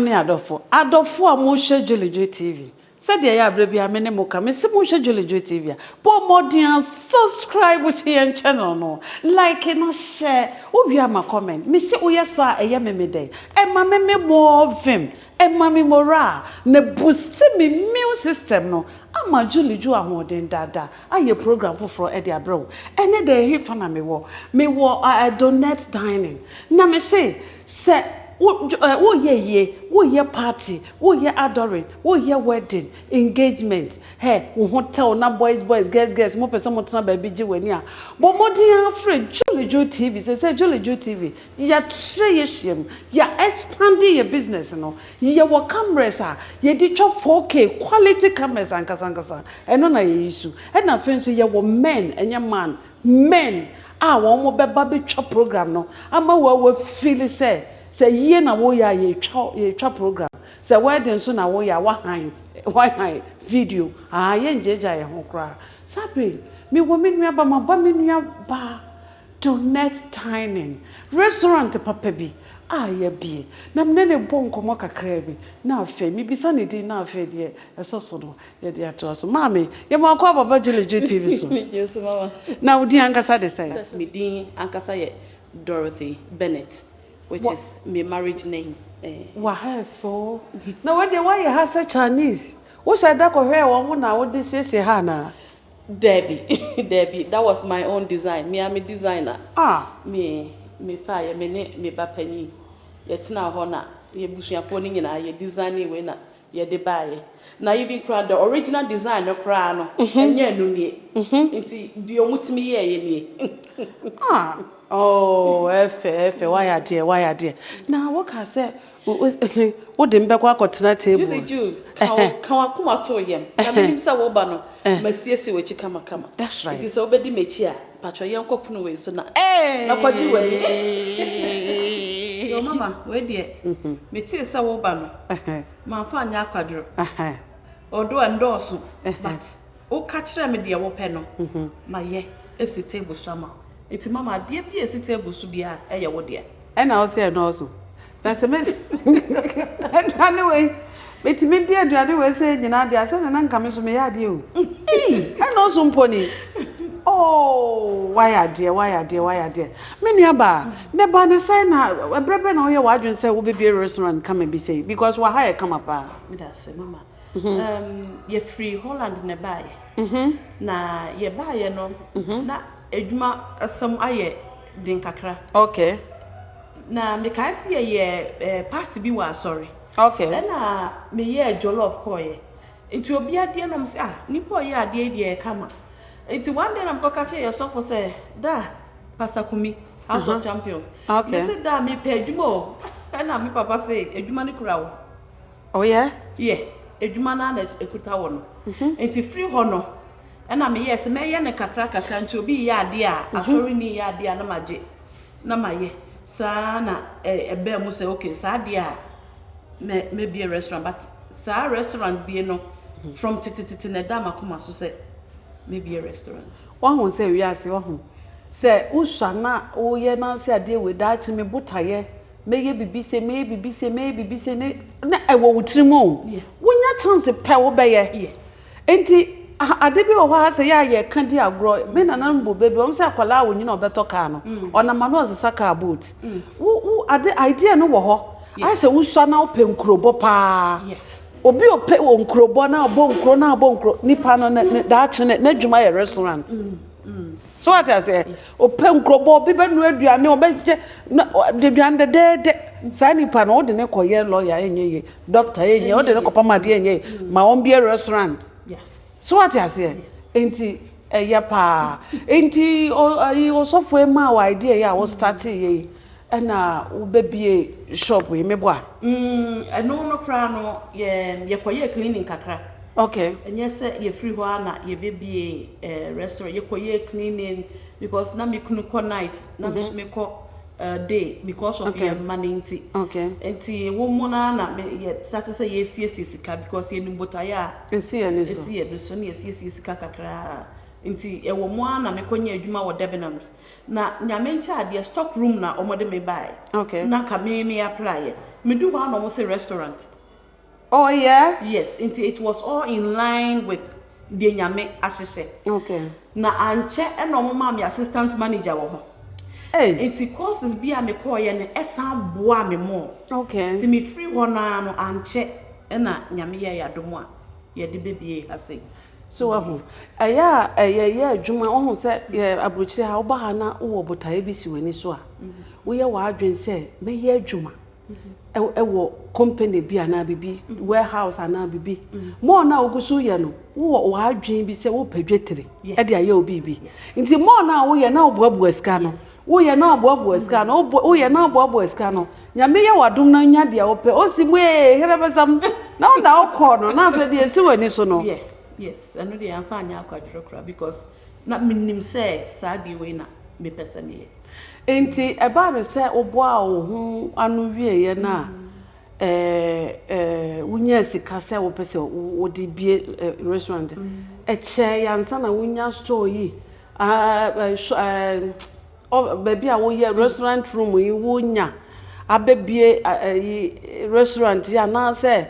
Mo ne adɔfo. Adɔfo a mohwɛ Jolly Joy TV, sɛdeɛ ɛyɛ a berɛ biara me ne mo ka, mese mohwɛ Jolly Joy TV a, bɔ mmɔden a subscribe to yɛn channel no, like na share, wowie a ma comment, mese woyɛ saa a ɛyɛ me me dɛ, ɛma me me more vim, ɛma me morale, na boost me immune system no, ama Jolly Joy ahoɔden dada ayɛ program foforɔ de abrɛ wo. Ɛnɛ da ɛhefa na mewɔ? Mewɔ Donette Dining, na mese Sɛ wo eh, woreyɛ ayie, woreyɛ party, woreyɛ adoring, woreyɛ wedding, engagement, hɛ, wo ho tɛw na boys boys, girls girls mopɛ sɛ motena baabi gye w'ani a, bɔ mmɔden ara frɛ Juliju TV. Seesei Juliju TV, yɛatrɛ yɛahyiam, yɛ expande yɛ business no. Yɛwɔ cameras a yɛde twa 4K, quality cameras ankasa ankasa, ɛno na yɛyi so. Ɛna afei nso yɛwɔ men, ɛnyɛ man, Men a wɔn bɛba bɛtwa program no ama wo a wo feel sɛ sɛ ayie na wo yɛ a yɛtwa yɛtwa program sɛ wedding nso na wo yɛ a wa han wa han video aa yɛn gya gya yɛn ho koraa saa bere yi me wɔ me nua ba ma ba me nua ba Donette Dining restaurant papa bi a ya bie na me ne no bɔ nkɔmɔ kakraa bi na afei me bisa ne din na afei deɛ ɛsɔ so no Yɛde atoa so. Maame, yɛma wo kɔ Baba Julie Dwe TV so. Megye so, Mama. Na wo din ankasa de sɛn? Yes, me din ankasa yɛ Dorothy Bennett, which is me marriage name. Eh. Wa ha yɛ fɛ o. Na wei deɛ woayɛ ha sɛ Chinese. Wohyɛ da kɔhwɛɛ wɔn ho na wode siesie ha anaa? Dabi, dabi, that was my own design. Me ara me designer. Ah. Me, mefaeɛ, me ne me ba panin. Yɛtenaa hɔ na yɛn abusuafoɔ no nyinaa yɛ designee wei na yɛde baeɛ na even koraa the original design no koraa no ɛnyɛ ɛno nie nti deɛ ɔmo tumi yɛɛyɛ nie ah oh ɛfɛ ɛfɛ wayɛ adeɛ wayɛ adeɛ na woka sɛ wode me bɛkɔ akɔtena table Julie Jude ka wakoma to yɛm na menim sɛ woba no masiesie w'akyi kamakama that's right nti sɛ wobɛdi m'akyi a Pacho yɛn kɔ pono wei so na na kɔ gye w'ani eeii yoo mama wei deɛ me tee sɛ wo ba no ma fa nyɛ akwaduro although ɛndɔɔso but wo ka kyerɛ me deɛ wo pɛ no ma yɛ esi table so ama wo nti mama adeɛ bi a esi table so biara ɛyɛ wo deɛ. Ɛna wo se ɛdɔɔso. Na sɛ mesi aduane wei, metumi di aduane wei sɛɛ nyinaa deɛ a, sɛdeɛ na nka me nso meyɛ adeɛ o. Ei, ɛnnɔɔso mpo ni. Oo, woayɛ adeɛ, woayɛ adeɛ, woayɛ adeɛ. Me nuabaa, ne ba ne sɛn na, ɛberɛ bɛn na woyɛ w'adwene sɛ wobɛbue restaurant kama bi sei? Because wɔ ha yɛ kama paa. Meda ase, mama. Yɛfiri Holland na ɛbaeɛ. Na yɛbaeɛ no, na Adwuma asɛm ayɛ den kakra. Okay. Na mekae sɛ yɛyɛ eh, party bi wɔ asɔre. Okay. Ɛna meyɛɛ jollof kɔɔeɛ. Nti obia deɛ na ɔmse ah nipa ɔyɛ adeɛ deɛ yɛ kama. Nti one day na mekɔka kyerɛ yɛ sɔfo sɛ da Pastor Kumi House of Champions. Okay. Mese da mepɛ adwuma o. Ɛna me papa se adwuma no kura wo. Oh yeah? Yeah. Adwuma no ara na ɛkuta wo no. Nti firi hɔ no. Ɛna me yɛɛ sɛ mɛyɛ no kakra kakra nti obi reyɛ adeɛ a asɔre ni reyɛ adeɛ a na ma gye na ma yɛ saa na ɛbaa mu sɛ okay saa adeɛ a mɛ mɛ bie restaurant but saa restaurant bie no from tete tete na ɛda ma koma so sɛ mɛ bie restaurant. Wɔn ho sɛ wiase wɔn ho sɛ wosua na woyɛ na sɛ adeɛ wei daakye me botayɛ mɛyɛ bibi se mɛyɛ bibi se mɛyɛ bibi se ne na ɛwɔ wo tiri mu o wonya chance pɛ wobɛyɛ yes Enti ade bi wɔ hɔ a sɛ yɛ a yɛka di agorɔ. Me nananom bobe bi, wɔn sɛ akwadaa a ɔnyin a ɔbɛtɔ kaa no, ɔnam ano ɔsesa kaa boot. Wo wo ade idea no wɔ hɔ ayɛ sɛ wosua na wopɛ nkurobɔ paa. Obi a ɔpɛ wɔ nkurobɔ na ɔbɔ nkuro na ɔbɔ nkuro nipa no ne ne daakye ne n'adwuma yɛ restaurant. So wate aseɛ? Ɔpɛ nkurɔbɔ, obi bɛnoa aduane, ɔbɛyɛ na aduane dɛdɛɛdɛ. Saa nipa no, wode ne kɔyɛ lɔya ɛnyɛ ye, dɔkta ɛnyɛ ye, wode ne kɔpam adeɛ ɛnyɛ ye, ma wɔn bie restaurant. So wate aseɛ? Nti ɛyɛ paa. Nti ɔyi osɔfoɔ yi maa wɔ idea yi a wo startee yɛ yi. Ɛna wo bɛ bie shop yi me bɔ a. Mm ɛno no koraa no yɛ yɛ kɔ yɛɛ cleaning kakra. Okay. Ɛnyɛ sɛ yɛ firi hɔ a na yɛ bɛ bie eh, restaurant yɛ kɔ yɛɛ cleaning because na me kunu kɔ night na mm -hmm. me so me kɔ uh, day because of okay. yɛ mma ne nti. Okay. Nti wɔn mu na na me yɛ sate sɛ yɛ siesie sika because yɛ nim botaeɛ a. Esi yɛ ne so. Esi yɛ ne so ne yɛ siesie sika kakra nti ɛwɔ mu a na me kɔ nyɛ adwuma wɔ Debenhams. Na Nyame nkyɛ adeɛ stock room na ɔmo de me baeɛ. Okay. Na nka me me applyɛ. Me du hɔ ara na ɔmo se restaurant. Oh yeah? Yes, nti it was all in line with deɛ Nyame ahyehyɛ. Okay. Na ankyɛ na ɔmo maa me assistant manager wɔ ho. Ei! Nti courses bi a me kɔɔeɛ no ɛsan boaa me more. Okay. Nti me firi hɔ no ara no ankyɛ na Nyame yɛɛ yɛn adom a yɛde bɛbue ha sei. So wahu? Ɛyɛ a yɛyɛ adwuma, wohu sɛ yɛ aburokyire ha, woba ha na wowɔ botaeɛ bi si w'ani so a, woyɛ w'adwene sɛ mɛyɛ adwuma ɛwɔ company bi anaa biribi, warehouse anaa biribi. Mɔɔ no a wogu so yɛ no, wowɔ w'adwene bi sɛ wopɛ dwetire ɛde ayɛ wo biribi. Nti mɔɔ no a woyɛ na woboaboa sika no, Woyɛ na ɔboaboa sika no woyɛ na ɔboaboa sika no nyame yɛ wadom na nya deɛ wopɛ osi mu ee here bɛsam na wo na wokɔɔ no na afei deɛ esi w'ani so no. Yeah yes ɛno deɛ yɛmfa anyɛ akwadwerɛ koraa because na menim sɛ saa deɛ wei na mepɛ sɛ meyɛ. Nti ɛbaa no sɛ woboaa wo ho ano wieeɛ no a wonyaa sika sɛ wopɛ sɛ wode bie restaurant ɛkyɛɛ ansa na wonya store yi Baabi a woyɛ restaurant room yi wonya abɛbue restaurant yi anaasɛ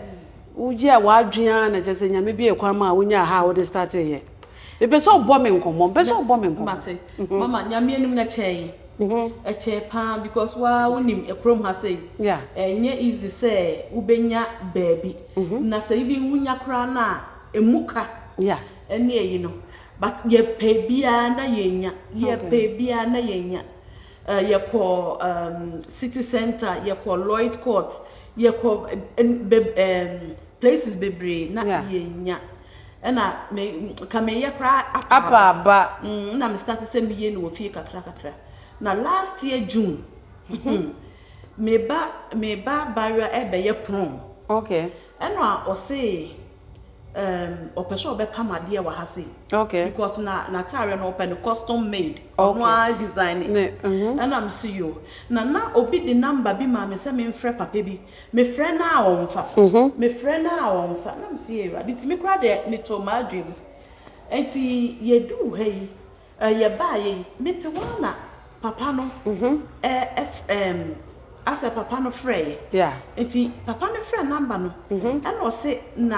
woyɛɛ w'adwene ara na kyerɛ sɛ Nyame buee kwan maa wonyaa ha a wode starteeɛ? Mepɛ sɛ wobɔ me nkɔmmɔ, mepɛ sɛ wobɔ me nkɔmmɔ. Mate. Mama, Nyame anim no ɛkyɛe. Ɛkyɛe pa ara because wo ara wonim kurom ha sei, ɛnyɛ easy sɛ wobɛnya baabi. Na sɛ even wonya koraa no a, ɛmu ka ne ayi no. But yɛpɛ biaa na yɛnya, yɛpɛ biaa na yɛnya. Eh, yɛkɔ um, city center, yɛkɔ Lloyd Court, yɛkɔ um, places bebree na yeah. yɛnya. Ɛna me, ka meyɛ koraa apa aba. Mm, na me start sɛ meyɛ no wɔ fie kakra kakra. Na last year June, mm-hmm. meba, meba Barua ɛbɛyɛ prom. Okay. Ɛna ɔse, um, ɔpɛ sɛ ɔbɛpam adeɛ wɔ ha sei okay. because na n'ataareɛ no ɔpɛ no custom made ɔno okay. ara design ne mhm. ɛna me si yo na na obi de namba bi maa me sɛ memfrɛ papa bi mefrɛ no a ɔmfa mhm. mefrɛ no a ɔmfa na me si awurade nti me kora deɛ metoo m'adwene mu nti yɛduu ha yi Eh, yɛbaeɛ yi, mete hɔ ara na papa no ɛf, ɛm, asɛ papa no frɛeɛ. Yeah. Nti papa no frɛ number no, ɛna ɔse na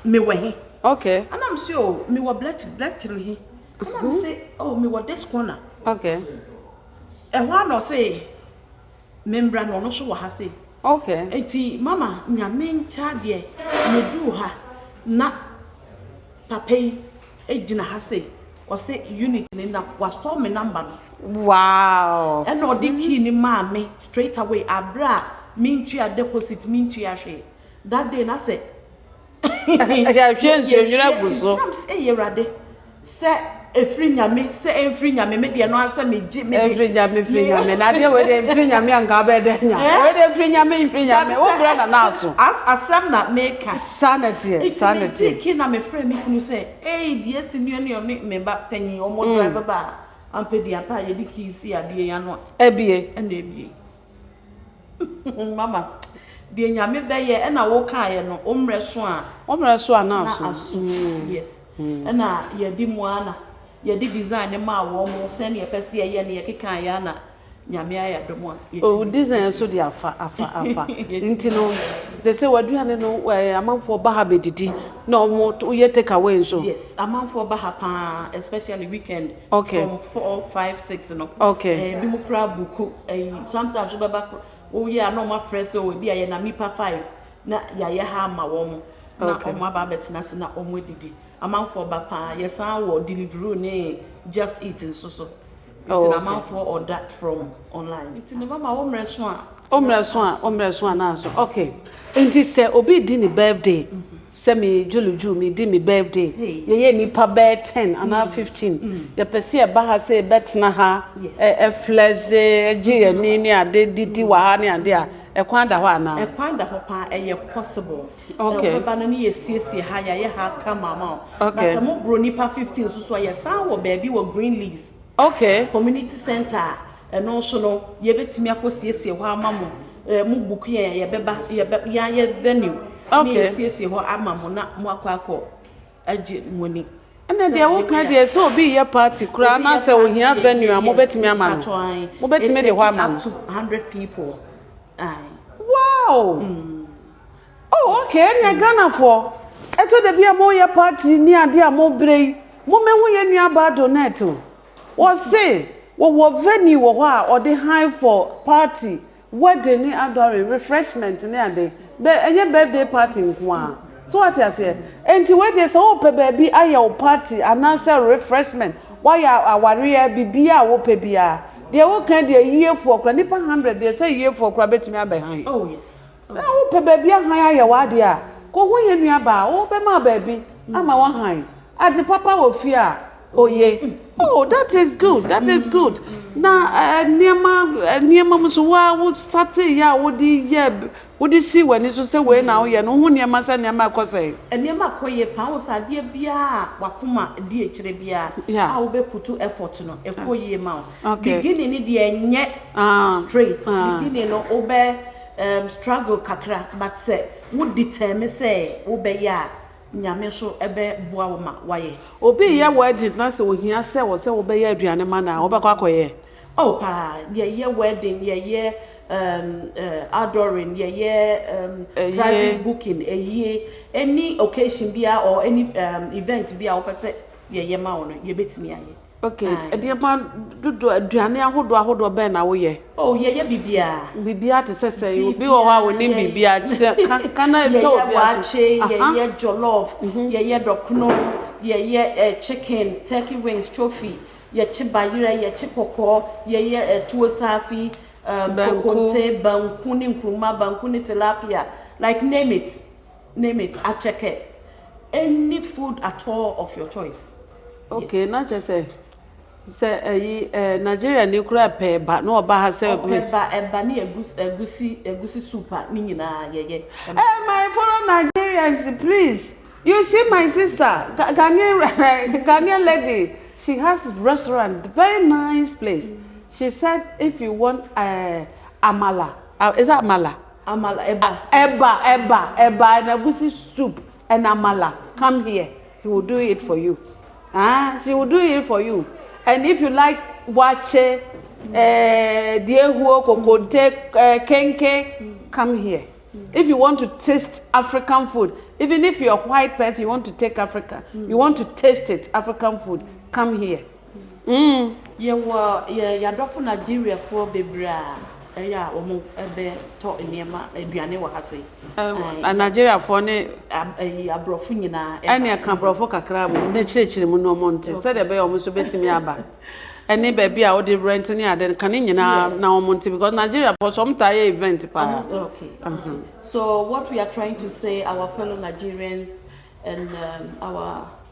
mewɔ he. Okay. Ɛna mese o, mewɔ Bletchley, Bletchley he. Ɛna mese o, mewɔ this corner. Okay. Ɛhɔ ara na ɔse. me mbra na ɔno so wɔ ha sei. Okay. Enti mama Nyame nkyɛ adeɛ meduu ha na papa yi gyina ha sei ɔse unit no na wa store me number no. Wow. Ɛna ɔde key no maa me straight away aberɛ a mentua deposit mentua hwee that day na sɛ. Yɛahwie nsuonwini agu so. Nam sɛ, Ei Awurade, sɛ ɛfiri Nyame, sɛ ɛmfiri Nyame, me deɛ no ara sɛ megye, me deɛ. Ɛmfiri Nyame, ɛfiri Nyame. Na adeɛ wei deɛ ɛmfiri Nyame a nka wobɛyɛ dɛ anya. Wei deɛ ɛfiri Nyame, ɛmfiri Nyame. Wo brɛ na na aso. As, asɛm na meka. Saa na ɛteɛ, saa na ɛteɛ. Nti megyee key na mefrɛɛ me kunu sɛ, Ei, deɛ asi nie ne ɔne me ba panin, wɔn drive baa, ampɛ bi ampa a yɛde key sii adeɛ yi ano a. Abue. Ɛna abue. Mama, deɛ Nyame bɛyɛ ɛna wo kaeɛ no, wo mmerɛ so a. Wo mmerɛ so a na aso. Na aso, mm. yes. Mm. Ɛna yɛde mu ana, yɛde design ne maa wɔn mo, sɛnea yɛpɛ sɛ yɛyɛ no, yɛkeka ayɛ ana Nyame ayɛ adom a. Oh, design so de afa, afa, afa. Nti no, sɛ sɛ waduane no, eh, amanfoɔ ba ha bɛdidi, na wɔn, woyɛ take away nso. Yes, amanfoɔ ba ha paa, especially weekend. from four five six no ebi mo koraa buku ɛyi sometimes nso bɛba koro wowie a na wɔn afrɛ sɛ o ebi a yɛ nam nipa five na yɛayɛ ha ama wɔn na wɔn aba abɛtena ase na wɔn adidi amanfoɔ ba paa yɛsan wɔ delivery ne just eat nso so nti na amanfoɔ order from online nti ne mama wɔn mmerɛ so a wɔn mmerɛ so a wɔn mmerɛ so a na aso okay nti sɛ obi di ne birthday. sɛ me dwolodwo me di me birthday yɛ yɛ nipa bɛyɛ ten anaa fifteen yɛ pɛ sɛ yɛ ba ha sɛ yɛ bɛ tena ha ɛ flɛze gye yɛ ni ne ade didi wɔ ha ne ade a ɛkwan da hɔ anaa. ɛkwan da hɔ paa ɛyɛ possible ok ɛ bɛba no ne yɛ siesie ha yɛ ayɛ ha kama ama wo okay na sɛ mo boro nipa fifteen nso so a yɛ san wɔ baabi wɔ green leaves. Ok. Community centre a ɛno nso no yɛbɛtumi akɔ siesie hɔ ama mo eh, mo book yɛn a yɛbɛba yɛbɛ yɛayɛ venue ne Ok. yɛsiesie hɔ ama mo na mo akɔ akɔ agye mo ani Ɛna sɛ deɛ woka yɛbɛyɛ a. deɛ sɛ obi reyɛ party koraa Obi na yɛ sɛ party ohia a, venue a yes, mobɛtumi ama no. mpakyɛw ae. Mobɛtumi de hɔ Ɛtake ama up no. to 100 people ae. Wow! Oh ok ɛneɛ Ghanafoɔ ɛtɔ da bi a mo yɛ party ne adeɛ a mo brɛ yi mo mɛ hu yɛ nua baa Donette o wɔ se wɔ wɔ venue wɔ hɔ a ɔde han for party wedding ne adoring refreshment ne ade bɛ ɛnyɛ birthday party nko ara so wate aseɛ ɛnti wei deɛ sɛ wo pɛ baabi ayɛ wo party anaa sɛ refreshment wa yɛ awareɛ biribiaa wo pɛ biaa deɛ wo ka deɛ ayiefoɔ kora nipa hundred deɛ sɛ ayiefoɔ kora bɛtumi abɛ han. Oh yes. Sɛ wopɛ baabi a hann ayɛ w'ade a, kohu yɛn nuabaa a ɔbɛma baabi ama wo hann. Adze papa wɔ fie a, oye. Oh, that is good, that is good. Na nneɛma, nneɛma mu so, wo ara wo sateeyɛ a wode yɛ, wode sii w'ani so sɛ wei na woyɛ no, wohu nneɛma sɛ nneɛma rekɔ sɛn? Nneɛma kɔ yie paa. Wohu sɛ adeɛ biara a w'akoma di akyire biara a wobɛputu effort no, ɛkɔ yie ma wo. Beginning no deɛ ɛnyɛ straight. Beginning no wobɛ. um struggle kakra but sɛ wo determine sɛ wo bɛ yɛ a nyame nso bɛ boa wo ma wa yɛ. Obi yɛ wedding na sɛ ohia sɛ wɔ sɛ wo bɛ yɛ aduane ma no a wo bɛ kɔ akɔ yɛ? Oh paa, yɛ yɛ wedding, yɛ yɛ um uh outdooring, yɛ yɛ um private booking, ayie, any occasion biara or any um event biara wo pɛ sɛ yɛ yɛ ma wo no yɛ bɛ tumi ayɛ. Okay, Aye. nneɛma dodoɔ, aduane ahodoɔ ahodoɔ bɛn na woyɛ? Oh, yɛyɛ biribiara. Biribiara te sɛ sɛ yi, obi wɔ hɔ a wɔnim biribiara te sɛ ka ka na ɛtɔ Yɛyɛ obi aso. waakye, Aha, mhm. yɛyɛ jollof, yɛyɛ dɔkono, yɛyɛ eh, chicken, turkey wings, trophy, yɛkye bayerɛ, yɛkye kɔkɔɔ, yɛyɛ eh, tuo saafi, um, Banku. kokonte, banku ne nkuruma, banku ne tilapia, like name it. Name it akyɛkɛ any food at all of your choice yes. Ok na kyerɛ sɛ sɛ ɛyi ɛɛ Nigeria ni kura pɛ ɛba na ɔba ha sɛ. Ɔpɛ ba ɛba ne ɛgus ɛgusi ɛgusi soup a ne nyinaa yɛ yɛ. Ɛɛ my follow Nigerians please you see my sister Ga Ghanaian Ghanaian lady she has restaurant very nice place she said if you want ɛɛ amala is it amala. Amala eba. Eba eba eba and agusi soup and amala come here he will do it for you ah she will do it for you and if you like wakye eh, diehuo kokonte eh, kenke come here if you want to taste African food even if you are white person you want to take Africa you want to taste it African food come here. Umm yɛwɔ yɛn yadɔfo Nigeria foɔ bebree a ɛyɛ a wɔn bɛ tɔ nneɛma aduane wɔ ha sei. Ɛɛ Nigeria foɔ ne. Ɛyi aborɔfo nyinaa. Ɛne ɛka aborɔfo kakra a wɔn bɛkyerɛkyerɛ mu na wɔn nte sɛdeɛ ɛbɛyɛ wɔn nso bɛtumi aba. Ɛne baabi a wode rent ne ade no ka ne nyinaa na wɔn nte because Nigeria foɔ so wɔn taa yɛ event paa. Okay okay so what we are trying to say our fellow Nigerians and um, our.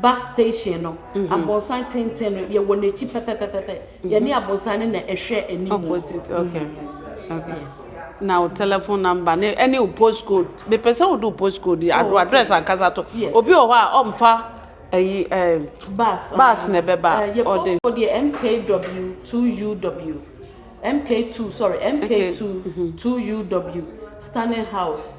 Bus station no, aborosan tenten no, yɛwɔ n'akyi pɛpɛpɛpɛ. Yɛne aborosan no na ɛhwɛ anim. Opposite, okay, okay. Na wo telephone number ne ɛne wo post code. Mepɛ sɛ wode wo post code yi, ado address ankasa to. Yes. Obi wɔ hɔ a ɔmfa ɛyi ɛɛ. Bus. Bus na ɛbɛba. Ɛɛ yɛ post code yɛ MKW 2UW. MK2, sorry, MK2 2UW. Stanley House,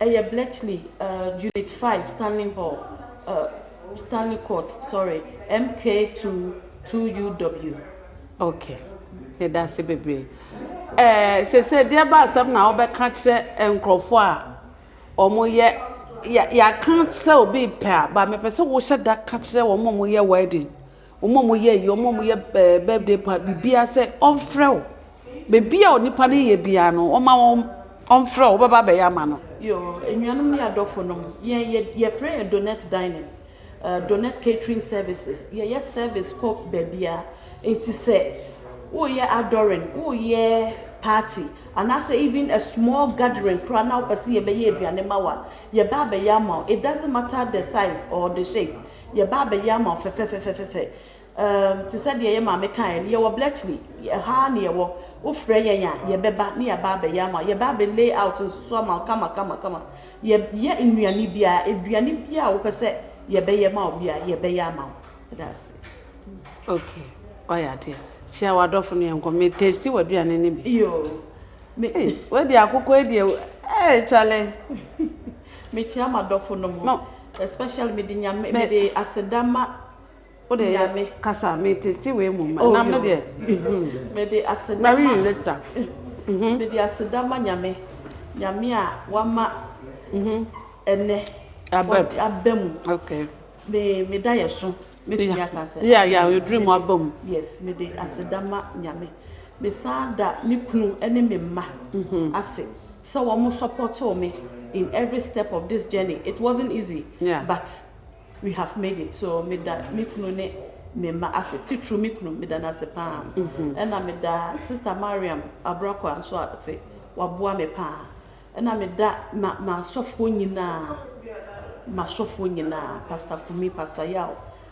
ɛyɛ Bletchley, uh, Unit 5, Stanley Hall, uh, Stanley Court, sorry, MK22UW. Okay. Yɛda ase bebree. Eh, sese deɛ ba asɛm na wɔbɛka kyerɛ nkurɔfoɔ a wɔyɛ yɛaka sɛ obi pɛ a ba mepɛ sɛ wohyɛ da ka kyerɛ wɔn a wɔyɛ wedding Wɔn a wɔyɛ ayie, wɔn a wɔyɛ ɛɛ birthday party, biribiara sɛ ɔmfrɛ wo. Baabi a onipa no yɛ biara no, wɔma wɔn ɔmfrɛ wo, wobɛba abɛyɛ ama no. Yoo, anuanom ne adɔfonom, yɛn yɛ yɛfrɛ yɛn Donut Dining, ɛɛ Donut Catering Services. Yɛyɛ service kɔ baabiara. Enti sɛ woreyɛ outdooring, woreyɛ party, anaasɛ even a small gathering koraa na wopɛ sɛ yɛbɛyɛ aduane ma wo a, yɛba abɛyɛ ama wo. It doesn't matter the size or the shape, Yɛba abɛyɛ ama wo fɛfɛfɛfɛfɛ Umm te sɛ deɛ yɛ maame kaeɛ no Yɛwɔ Bletchley, ɛha ara na yɛwɔ Wofrɛ yɛn a, yɛbɛba na yɛaba abɛyɛ ama wo Yɛba abɛ lay out nso so ama wo kamakamakama Yɛ yɛ nnuane biara, aduane biara a wopɛ sɛ yɛbɛyɛ ma wo biara, yɛbɛyɛ ama wo Yɛda ase. Ok, woayɛ adeɛ. Hyia w'adɔfo ne yɛnkɔ. Me taste w'aduane no bi. Yoo, me. Ei, wei deɛ akokɔ yi deɛ, ei, Charlie. Mekyia m'adɔfo nom no especially mede nyame mede aseda ma nyame. Kasa me testi wei mu ma nam no deɛ. Mede aseda ma. Mary later. Mede aseda ma nyame nyame a wama ɛnɛ aba mu. Me me daeɛso mɛtumi aka sɛ yeah yeah yɛduru mu aba mu yes mede aseda ma nyame mesan da me kunu ne me mma mhm. ase sɛ wɔn supportoo me in every step of this journey it wasn't easy yeah. but we have made it so meda me kunu ne me mma ase titiri me kunu meda no ase paa mhm. ɛna meda sister mariam abrako nso ase waboa me paa Ɛna me da ma m'asɔfoɔ nyinaa, m'asɔfoɔ nyinaa, Pastor Kumi, Pastor Yaw,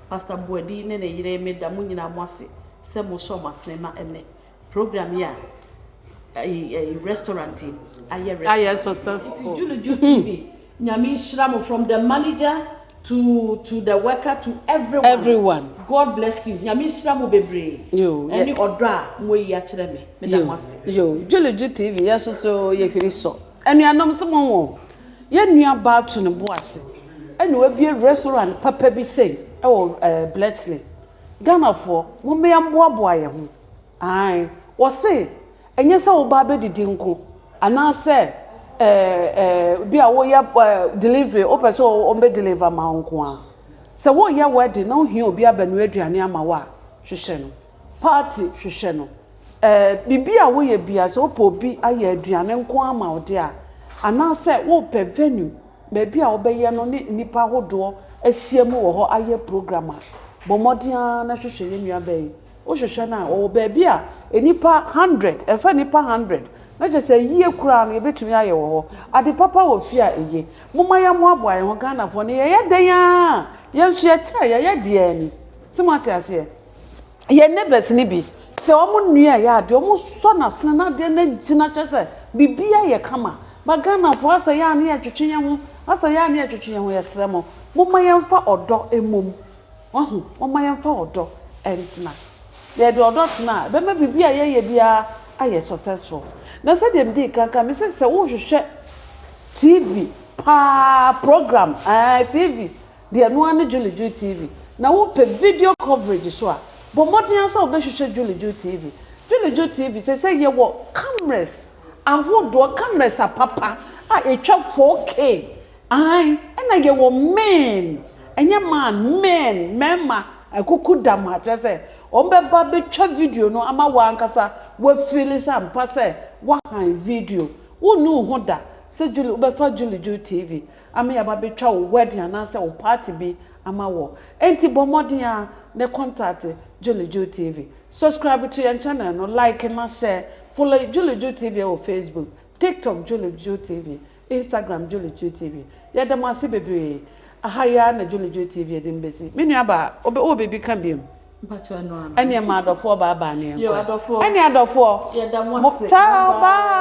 Pastor Boadi ne ne yere, me da mo nyinaa mo ase sɛ mo sɔɔ mo asene ma ɛnnɛ program yi a ɛyi ɛyi restaurant yi ayɛ restaurant. Ayɛ successful. Nti Juno Ju TV, Nyame nhyira mo from the manager. To to the worker to everyone. Everyone. God bless you Nyame nhyira mo bebree ɛne ɔdɔ a mo ayi akyerɛ me me da mo ase. Yoo Dwuludwu TV yɛ so so yɛ hwiri sɔ anuanom so mo wɔ yɛ nua baa to ne bo ase ɛna wabie restaurant papa bi sei ɛwɔ ɛɛ Bletchley Ghana foɔ mo mmea mboaboa yɛ ho ae wɔse Ɛnyɛ sɛ woba abɛdidi nko, anaasɛ bi a woyɛ delivery, wopɛ sɛ wɔbɛ deliver ma wo nko ara. Sɛ woreyɛ wedding na wohia obi abɛnoa aduane ama wo a, hwehwɛ no. Party, hwehwɛ no. Biribi a woyɛ biara, sɛ wopɛ obi ayɛ aduane nko ara ama wo deɛ a, anaasɛ worepɛ venue, baabi a wobɛyɛ no ne nnipa ahodoɔ ahyiam wɔ hɔ ayɛ program a, bɔ mmɔden ara na hwehwɛ yɛn nuabaa yi Wohwehwɛ no a, wɔwɔ baabi a nnipa hundred, ɛmfa nnipa hundred, na kyerɛ sɛ yie koraa no yɛbɛtumi ayɛ wɔ hɔ. Ade papa wɔ fie a eye. Momma yɛmmoaboa yɛn ho, Ghanafoɔ no yɛyɛ dɛn ara a, yɛn nso yɛkyɛɛ, yɛyɛ deɛ yɛn ani sɛ. Moate aseɛ? Yɛn neighbours no bi, sɛ wɔnnua yɛ adeɛ, wɔsɔ no asene na adeɛ no agyina kyerɛ sɛ biribiara ayɛ kama. But Ghanafoɔ, asɛ yɛ a na yɛtwetwe yɛn ho, asɛ yɛ a na yɛtwetwe yɛn ho. Yɛsrɛ mo, momma yɛmfa ɔdɔ mmom Wahu? Momma yɛmfa ɔdɔ ntena. Yɛde ɔdɔ tena a, ɛbɛma biribi a yɛyɛ biara ayɛ successful. Na sɛdeɛ medii kan kae, mese sɛ worehwehwɛ TV paa, program, ɛɛ, TV deɛ ɛno ara ne Julie Julie TV, na wopɛ video coverage nso a, bɔ mmɔden ara sɛ wobɛhwehwɛ Julie Julie TV. Julie Julie TV, seesei yɛwɔ cameras ahodoɔ, cameras apapa a ɛtwa 4K. Aane, ɛna yɛwɔ men, ɛnyɛ man, men, mmarima, akuku dam ha, kyerɛ sɛ, wɔbɛba abɛtwa video no ama wo ankasa woafeeli sɛ ampa sɛ woahan video. Wonni wo ho da sɛ Julie, wobɛfa Julie Ju TV ama yɛaba abɛtwa wo wedding anaasɛ wo party bi ama wo. Enti bɔ mmɔden ara na contact Julie Ju TV. Subscribe to yɛn channel no, like na share. Follow Julie Ju TV wɔ Facebook, TikTok, Julie Ju TV. Instagram Julie Julie TV yɛda mo ase bebree aha yi ara na Julie Julie TV yɛde mo besi me nua baa wobɛ wowɔ biribi ka biom Mpakyɛ ɛno ara ɛneɛ ma adɔfoɔ baa baa ne yɛnkɔ ɛneɛ adɔfoɔ yɛda mo ase ciao bye.